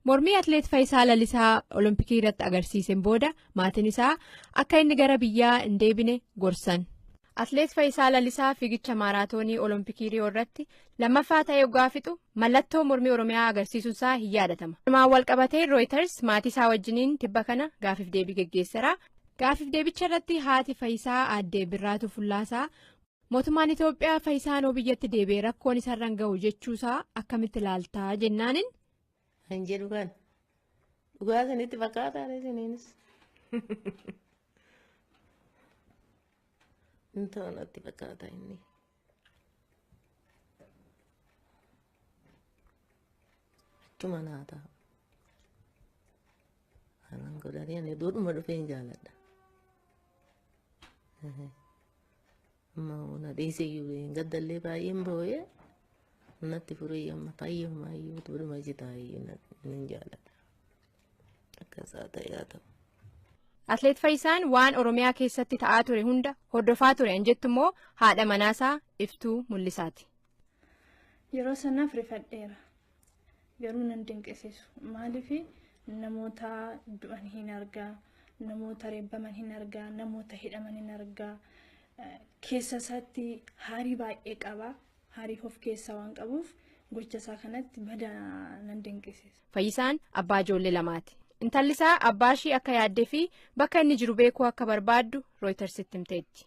Mormii Atileet Fayisaa Lalisaa Olompikii irratti agarsiiseen booda maatiin isaa akka inni gara biyyaa hin deebine gorsan. Atileet Fayisaa Lalisaa fiigicha maaraatoonii Olompikii Riyoo irratti lammaffaa ta'ee oggaa fixu mallattoo mormii Oromiyaa agarsiisuun isaa hin yaadatama. Kanumaan walqabatee Rooyiters maatii isaa wajjiniin tibba kana gaaffiif deebii geggeessera. Gaaffiif deebicha irratti haati Fayisaa aadde Birraatuu Fullaasaa Mootummaan Itoophiyaa Fayisaa noo biyyatti deebi'e rakkoon isarran gahu jechuusaa akkamitti ilaaltaa jennaanin. Kan jedhu kan dhugaa isinitti fakkaataa isiniinis. Hin ta'u natti fakkaata inni. Achuma naa ta'a. Kanan godhanii ani duudhuma dhufee hin jaaladha. Mauna dhiise iyyuu hin gaddallee baay'een boo'ee natti furee amma fayyumaa iyyuu tuudhuma jitaa iyyuu nan jaalladha. Akkasaa ta'ee haa ta'u. Atleet Fayyisaan waan Oromiyaa keessatti ta'aa ture hunda hordofaa ture an jettu immoo haadha manaasaa iftuu mul'isaati. Yeroo sanaaf rifadheera. garuu nan dinqisiisu maaliif namoota du'an hin argaa namoota reebbaman hin argaa namoota hidhaman hin argaa keessa isaatti haarii baay'ee qaba haarii of keessaa waan qabuuf gocha isaa kanatti badaa nan dinqisiisa. Fayyisaan abbaa ijoollee lamaati. Intalli isaa abbaa ishii akka yaaddee fi bakka inni jiru beekuu akka barbaaddu Rooytarsitti himteetti.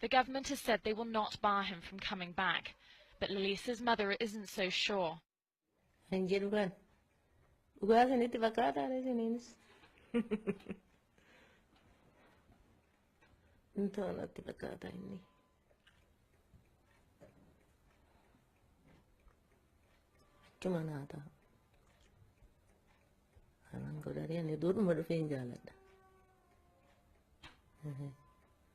The government has said they will not bar him from coming back, but Lalisa's mother isn't so sure. Hin jedhu kan. Dhugaa isinitti fakkaataa dha isiniinis. Hin ta'u natti fakkaata inni. Achuma naa ta'a. Kanan godhanii ani duudhuma dhufeen jaaladha.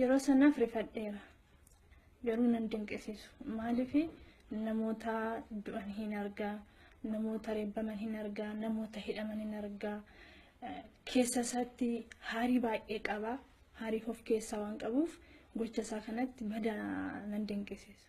Yeroo sanaaf rifadheera. Garuu nan dinqisiisu. Maaliif namoota du'an hin argaa, namoota reebbaman hin argaa, namoota hidhaman hin argaa. Keessa isaatti haarii baay'ee qaba. Haarii of keessaa waan qabuuf gocha isaa kanatti badaa nan dinqisiisu.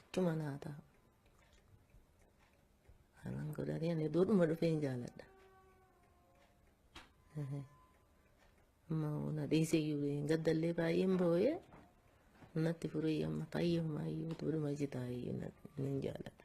Achuma naa taa'u. Anan godhatee ani duudhuma dhufeen jaaladha. Amma na dhiisee iyyuu hin gaddallee baay'een boo'ee natti furee amma fayyummaa iyyuu duudhuma jitaa iyyuu nan jaaladha.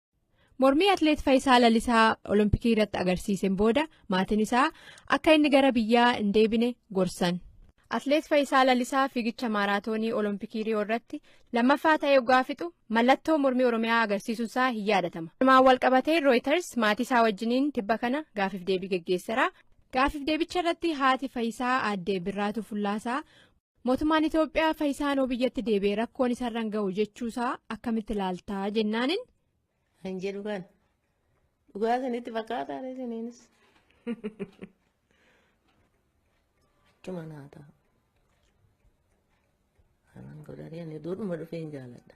Mormii Atileet Fayisaa Lalisaa Olompikii irratti agarsiiseen booda maatiin isaa akka inni gara biyyaa hin deebine gorsan. Atileet Fayisaa Lalisaa fiigicha maaraatoonii Olompikii Riyoo irratti lammaffaa ta'ee oggaa fixu mallattoo mormii Oromiyaa agarsiisuun isaa hin yaadatama. Kanumaan walqabatee Rooyiters maatii isaa wajjiniin tibba kana gaaffiif deebii geggeessera. Gaaffiif deebicha irratti haati Fayisaa aadde Birraatuu Fullaasaa Mootummaan Itoophiyaa Fayisaa Anoo biyyatti deebi'ee rakkoon isarraan gahu jechuusaa akkamitti ilaaltaa jennaanin. Hin jedhu kan dhugaa isinitti fakkaataa isiniinis. Achuma naa ta'a. Kanan godhanii ani duudhuma dhufee hin jaaladha.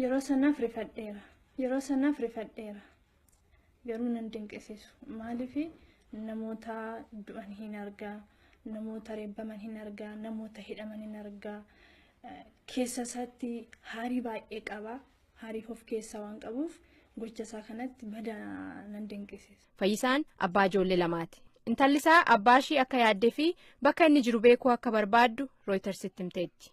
Yeroo sanaaf rifadheera. Yeroo sanaaf rifadheera. Garuu nan dinqisiisu. Maaliif namoota du'an hin argaa, namoota reebbaman hin argaa, namoota hidhaman hin argaa. Keessa isaatti haarii baay'ee qaba. Haarii of keessaa waan qabuuf gocha isaa kanatti bada nan dinqisiisa. Fayyisaan abbaa ijoollee lamaati. Intalli isaa abbaa ishii akka yaaddee fi bakka inni jiru beekuu akka barbaaddu Rooyitarsitti himteetti.